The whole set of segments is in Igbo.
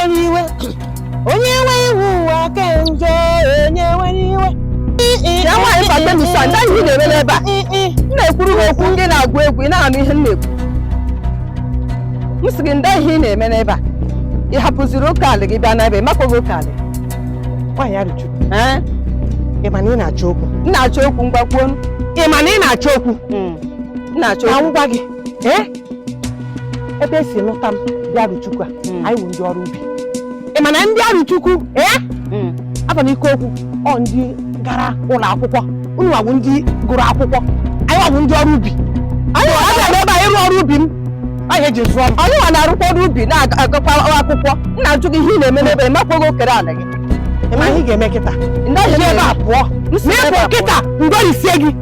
iwe onye nwe iwu ụwa ke njọ onye nwe iwe ya nwaanyị fata misa ndị ihe ị na-eme n'ebe a m na-ekwuru ha okwu ndị na-agụ egwu ị na-anụ ihe m na-ekwu m sị gị ndị ihe ị na-eme n'ebe a ị hapụziri oke alị gị bịa n'ebe makwaghị oke alị nwaanyị arọchukwu ị ma na ị na-achọ okwu m na-achọ okwu ngwa kwuo ị ma na ị na-achọ okwu m na-achọ ka okwu m gwa gị ee ebe esi lụta m ndị arọchukwu a hmm. anyị wụ ndị ọrụ ubi ị ma na ndị arọchukwu ee hmm. aba m ike okwu ọ ndị gara ụlọ akwụkwọ unu wa wụ ndị gụrụ akwụkwọ anyị wa wụ ndị ọrụ ubi anyị wa bịa ebe a ịrụ ọrụ ubi m anyị ji zụọ m anyị wa na-arụkwa ọrụ ubi na-agakwa akwụkwọ m na-ajụ gị ihe ị na-eme n'ebe ị makwaghị okere ala gị ị ma ihe ị ga-eme kịta ndị ahịa ebe a pụọ ma ịpụ kịta ngwarisie gị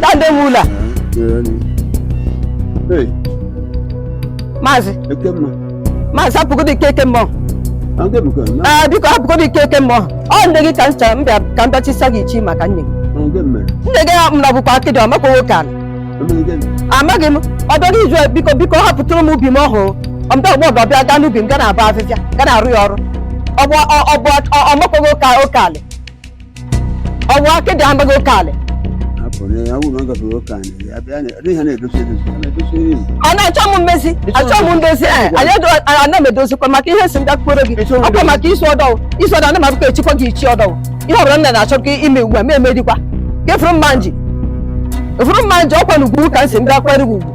Dande Mula. Hey. Mazi. Ekemma. Mazi hapụgodị Ekemma ọ. Ee biko hapụgodị Ekemma ọ. Ọ nne gị ka m chọrọ m bịa ka m bịa chisa gị ichi maka nne gị. Nne gị m na bụkwa akịdị ọ makwaghị oke ala. Amaghị m ọ bịaghị izu biko biko hapụtụrụ m ubi m ọhụụ. Ọ mbịa ụgbọ ọbịa bịa gaa n'ubi m ga na-abọ afịfịa ga na-arụ ya ọrụ. Ọ bụ ọ makwaghị oke ala. ọ bụ akịdị amaghị oke ala ọ na-achọ m mmezi achọ m ndozi eh, ana m edozikwa maka ihe m sị m gakwuoro gị ọkwa maka isi ọdọwụ isi ọdọ ana m abụkọ echikwa gị ichi ọdọwụ ihe ọbụla nna na-achọ gị ime ugbu a ma emedikwa gị fụrụ mma nji fụrụ mma nji ọkwa n'ugwu ka m si m gakwere gị ugwu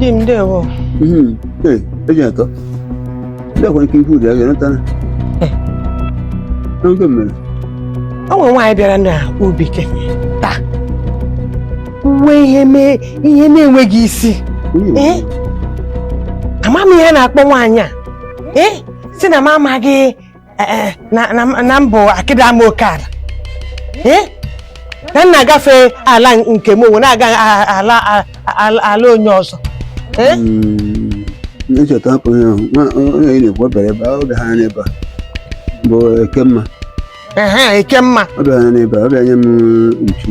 di m ndewo mhm. eji atọ ndị akwa ike ikwu ụdị a ga-ereta eh. n'oge mmiri o nwere nwaanyị bịara na ubi kịta kwuwe ihe mee ihe na-enweghị isi eh? ama m ihe na-akpọ nwaanyị a eh? sị na m amaghị eh, na m bụ akịdị ama oke ala na m na-agafe ala nke m onwe na-aga ala onye ọzọ hmm, ncheta hapụ ihe ahụ onye ị na-ekwu obere ebe ọ bịara n'ebe a bụ ekemma ekemma ọ bịara n'ebe a ọ bịa nye m ntu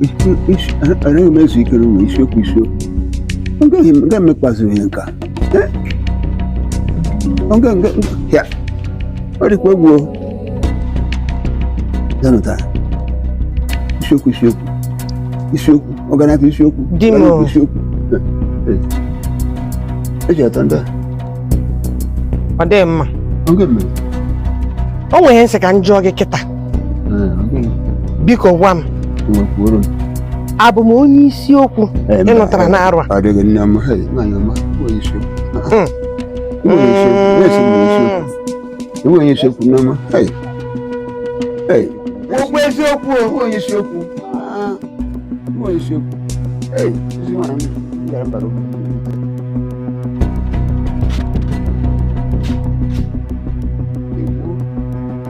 anaghị m ezu ike n'ụlọ isiokwu isiokwu agaghị emekpazi onye nka ya ọ dịkwa egwu zanụta isiokwu isiokwu isiokwu ọganaka isiokwu Di m. ọganaka isiokwu eji atọ ndị ọ dịghị mma a ọ ga-eme o nwere ihe m sị ka m jụọ gị kịta biko gwa m abụ m onye isiokwu ị nụtara n'arụ a enweghị isiokwu n'ama okwu eziokwu enweghị isiokwu enweghị isiokwu